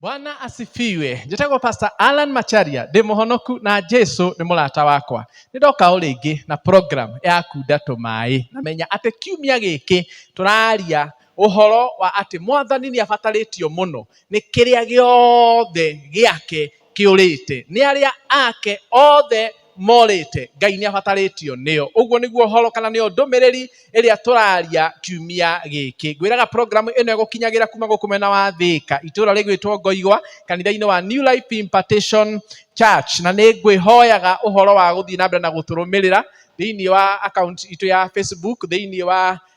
bwana asifiwe njĩtagwo pastor alan macharia ndĩ mũhonoku na jesu nĩ mũrata wakwa nĩ ndoka o rĩngĩ na program ya kunda tũmaĩ na menya atĩ kiumia gĩkĩ tũraria ũhoro wa atĩ mwathani nĩ abatarĩtio mũno nĩ kĩrĩa gĩothe gĩake kĩũrĩte, nĩ arĩa ake othe morĩte. Ngai nĩ abatarĩtio nĩo. Ũguo nĩguo ũhoro kana nĩyo ndũmĩrĩri ĩrĩa tũraria kiumia gĩkĩ. Ngwĩraga programu ĩno ĩgũkinyagĩra kuma gũkũ mwena wa Thĩka, itũra rĩgwĩtwo Ngoigwa, kanitha-inĩ wa New Life Impartation Church. Na nĩ ngwĩhoyaga ũhoro wa gũthiĩ na mbere na gũtũrũmĩrĩra thĩinĩ wa account itũ ya Facebook, thĩinĩ wa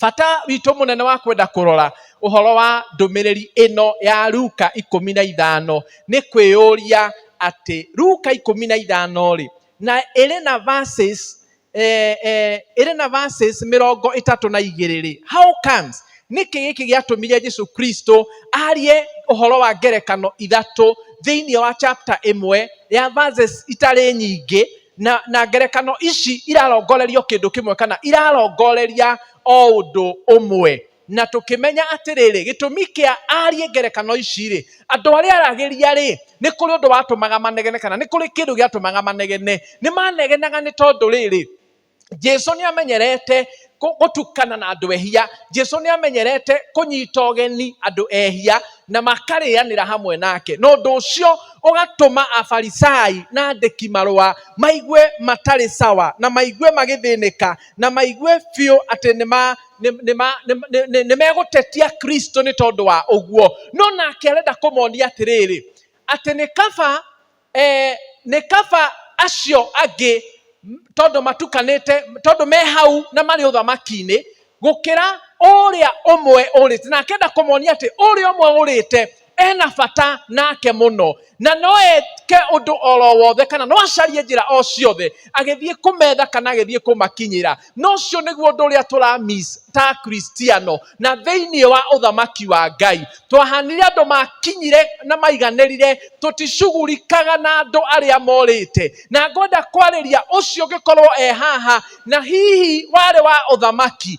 bata witũ mũnene wa kwenda kũrora ũhoro wa ndũmĩrĩri ĩno ya Luka ikũmi na ithano nĩ kwĩyũria atĩ Luka ikũmi na ithano rĩ na ĩrĩ na verses eh, eh, ĩrĩ na verses mĩrongo ĩtatũ na igĩrĩ rĩ how comes nĩkĩ gĩkĩ gĩatũmire jesu kristo arie ũhoro wa ngerekano ithatũ thĩinĩ wa chapter ĩmwe ya verses itarĩ nyingĩ na, na ngerekano ici irarongorerio kĩndũ kĩmwe kana irarongoreria o ũndũ ũmwe na tũkĩmenya atĩrĩrĩ gĩtũmi kĩa arie ngerekano ici rĩ andũ arĩa aragĩria rĩ nĩ kũrĩ ũndũ watũmaga manegene kana nĩ kũrĩ kĩndũ gĩatũmaga manegene nĩ manegenaga nĩ tondũ rĩrĩ jesu nä amenyerete kå- gũtukana na andå ehia jesu nä amenyerete kũnyita ũgeni andå ehia na makarĩanĩra hamwe nake na ũndå å cio ũgatũma afarisai na andĩki marũa maigue matarĩ sawa na maigue magĩthĩnĩka na maigue biũ atĩ nĩ ma- nĩ- nĩ ma- nĩ- nĩ- nĩ- nĩ megũtetia kristo nĩ tondå wa ũguo no nake arenda kũmonia atĩrĩrĩ atĩ nĩ kaba eh, nĩ kaba acio angĩ tondũ matukanĩte tondũ me hau na marĩ ũthamaki-inĩ gũkĩra ũrĩa ũmwe ũrĩte na akenda kũmonia atĩ ũrĩa ũmwe ũrĩte ena bata nake mũno na no eke ũndũ oro wothe kana no acarie njĩra o ciothe agĩthiĩ kũmetha kana agĩthiĩ kũmakinyĩra na ũcio nĩguo ũndũ ũrĩa tũramis ta kristiano na thĩinĩ wa ũthamaki wa ngai twahanire andũ makinyire na maiganĩrire tũticugurikaga na andũ arĩa morĩte na ngwenda kwarĩria ũcio ũngĩkorwo e haha na hihi warĩ wa ũthamaki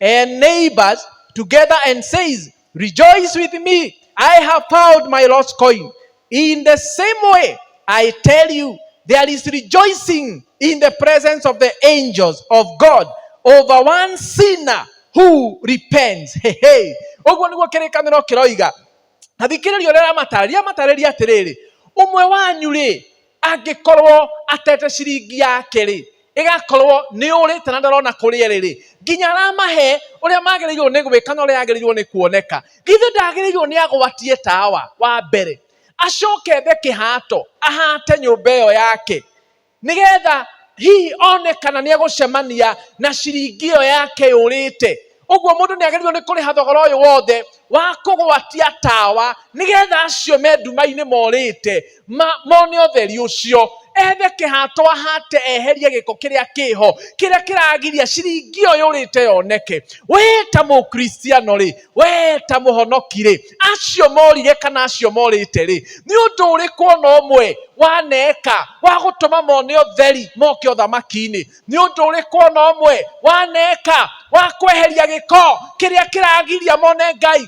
and neighbors together and says, Rejoice with me, I have found my lost coin. In the same way, I tell you, there is rejoicing in the presence of the angels of God over one sinner who repents. Hey, hey. Oguo niguo kĩrĩkanĩro kĩroiga. Na thikĩrĩria ũrĩa aramatara. Rĩamatarĩria atĩrĩrĩ, ũmwe wanyu rĩ, angĩkorwo atete ciringi yake rĩ ĩgakorwo nĩ ũrĩte na ndarona kũrĩa ĩrĩ rĩ nginya aramahe ũrĩa magĩrĩirwo nĩ gwĩka na ũrĩa agĩrĩirwo nĩ kuoneka githĩ ndagĩrĩirwo nĩ agwatie tawa wa mbere acoke ethe kĩhato ahate nyũmba ĩyo yake nĩgetha hihi one kana nĩ egũcemania na ciringi ĩyo yake yũrĩte ũguo mũndũ nĩ agĩrĩirwo nĩ kũrĩha thogora ũyũ wothe wa kũgwatia tawa nĩgetha acio me nduma-inĩ morĩte mone ũtheri ũcio ethe kĩhato ahate eherie gĩko kĩrĩa kĩho kĩrĩa kĩragiria ciringi ĩyo yũrĩte yoneke we ta mũkristiano rĩ we ta mũhonoki rĩ acio morire kana acio morĩte rĩ nĩ ũndũ ũrĩkũ ona ũmwe waneka wa gũtũma mone ũtheri moke ũthamaki-inĩ nĩ ũndũ ũrĩkũ ona ũmwe waneka wa kweheria gĩko kĩrĩa kĩragiria mone ngai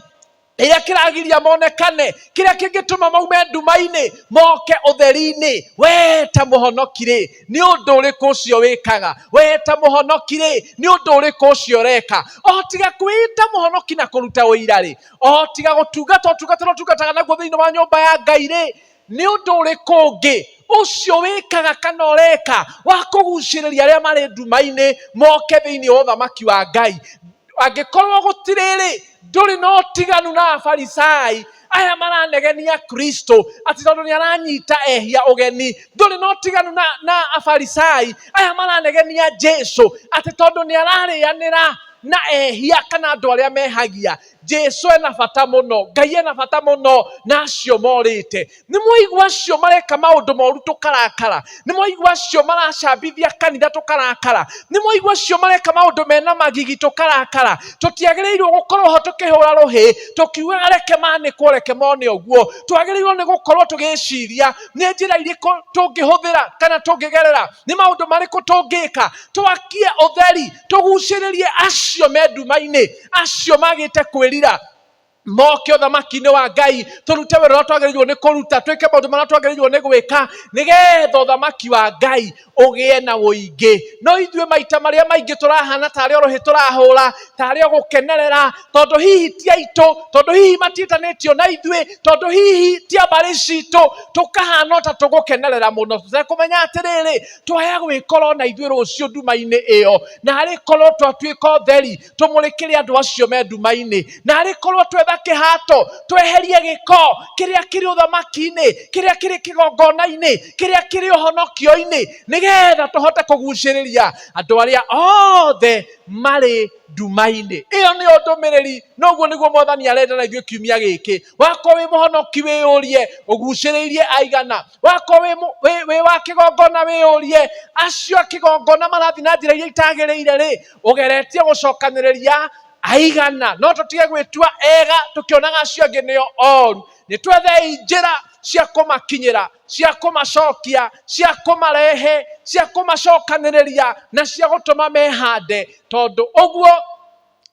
kĩrĩa kĩragiria monekane kĩrĩa kĩngĩtũma maume nduma-inĩ moke ũtheri-inĩ wee ta mũhonoki rĩ nĩ ũndũ ũrĩkũ ũcio wĩkaga wee ta mũhonoki rĩ nĩ ũndũ ũrĩkũ ũcio ũreka o tiga kwĩita mũhonoki na kũruta ũira rĩ o tiga gũtungata ũtungata ũrĩa ũtungataga naguo thĩinĩ wa nyũmba ya ngai rĩ nĩ ũndũ ũrĩkũ ũngĩ ũcio wĩkaga kana ũreka wa kũgucĩrĩria arĩa marĩ nduma-inĩ moke thĩinĩ wa ũthamaki wa Ngai? Angĩkorwo gũtirĩrĩ, ndũrĩ na ũtiganu na Afarisai aya maranegenia Kristo atĩ tondũ nĩ aranyita ehia ũgeni. Ndũrĩ na ũtiganu na, na Afarisai aya maranegenia Jesu atĩ tondũ nĩ ararĩanĩra na ehia kana andũ arĩa mehagia. Jesu ena bata muno ngai ena bata muno na acio morite ni mwaigua acio mareka maundu moru tukarakara ni mwaigua acio maracambithia kanitha tukarakara ni mwaigua acio mareka maundu mena magigi tukarakara tutiagiriirwo gukorwo ho tukihura ruhi tukiugaga reke manikwo reke mone uguo twagiriirwo ni gukorwo tugiciria ni njira iriku tungihuthira kana tungigerera ni maundu mariku tungika twakie utheri tuguciririe acio me nduma-ini acio magĩte kwĩrira moke ũthamaki-inĩ wa ngai tũrute wĩra ũrĩa twagĩrĩirwo nĩ kũruta twĩke maũndũ marĩa twagĩrĩirwo nĩ gwĩka nĩgetha ũthamaki wa ngai ũgĩe na ũingĩ no ithuĩ maita marĩa maingĩ tũrahana tarĩ orohi tũrahũra tarĩ gũkenerera tondũ hihi ti aitũ tondũ hihi matiĩtanĩtio na ithuĩ tondũ hihi ti ambarĩ citũ tũkahana ta tũgũkenerera mũno tũtekũmenya atĩrĩrĩ twaya gwĩkorwo na ithuĩ rũciũ nduma-inĩ ĩyo narĩ korwo twatuĩka ũtheri tũmũrĩkĩre andũ acio me nduma-inĩ na arĩ korwo twetha kĩhato tweherie gĩko kĩrĩa kĩrĩ ũthamaki-inĩ kĩrĩa kĩrĩ kĩgongona-inĩ kĩrĩa kĩrĩ ũhonokio-inĩ nĩgetha tũhote kũgucĩrĩria andũ arĩa othe marĩ nduma-inĩ ĩyo nĩyo ndũmĩrĩri noguo nĩguo mwathani arenda na ithuĩ kiumia gĩkĩ wakorwo wĩ mũhonoki wĩyũrie ũgucĩrĩirie aigana wakorwo wĩ mũ- wĩ- wĩ wa kĩgongona wĩyũrie acio a kĩgongona marathiĩ na njĩra iria itagĩrĩire rĩ ugeretie gucokaniria aigana no tutige gwitua ega tukionaga acio angi nio oru ni twethei njira cia kumakinyira cia kumacokia cia kumarehe cia kumacokaniria na cia gutuma mehande tondu uguo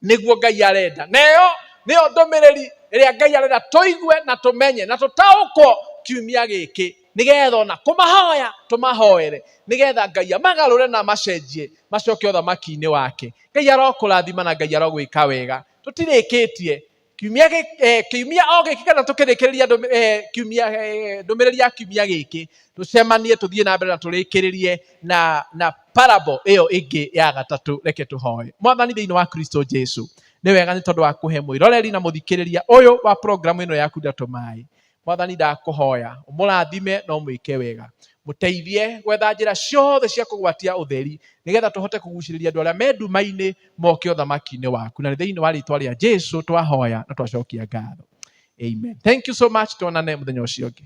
niguo ngai arenda neyo niyo ndumiriri iria ngai arenda tuigue na tumenye na tutaukwo kiumia giki nĩgetha ona kũmahoya tũmahoere nĩgetha ngai amagarũre na amacenjie macoke ũthamaki-inĩ wake ngai arokũrathima na ngai arogwĩka wega tũtirĩkĩtie kiumia eh, kiumia o gĩkĩ kana tũkĩrĩkĩrĩria eh, kiumia eh, ndũmĩrĩri ya kiumia gĩkĩ tũcemanie tũthiĩ na mbere na tũrĩkĩrĩrie na na parable ĩyo ĩngĩ ya gatatũ reke tũhoe mwathani thĩinĩ wa kristo jesu nĩ wega nĩ tondũ wa kũhe mwĩroreri na mũthikĩrĩria ũyũ wa programu ĩno yaku ndatũ maĩ Mwathani ndakũhoya ũmũrathime na ũmwĩke wega. Mũteithie gwetha njĩra ciothe cia kũgwatia ũtheri nĩgetha tũhote kũgucĩrĩria andũ arĩa me nduma-inĩ moke ũthamaki-inĩ waku. Na nĩ thĩinĩ wa rĩtwa rĩa Jesu twahoya na twacokia ngatho. Amen. Thank you so much. Tuonane mũthenya ũcio ũngĩ.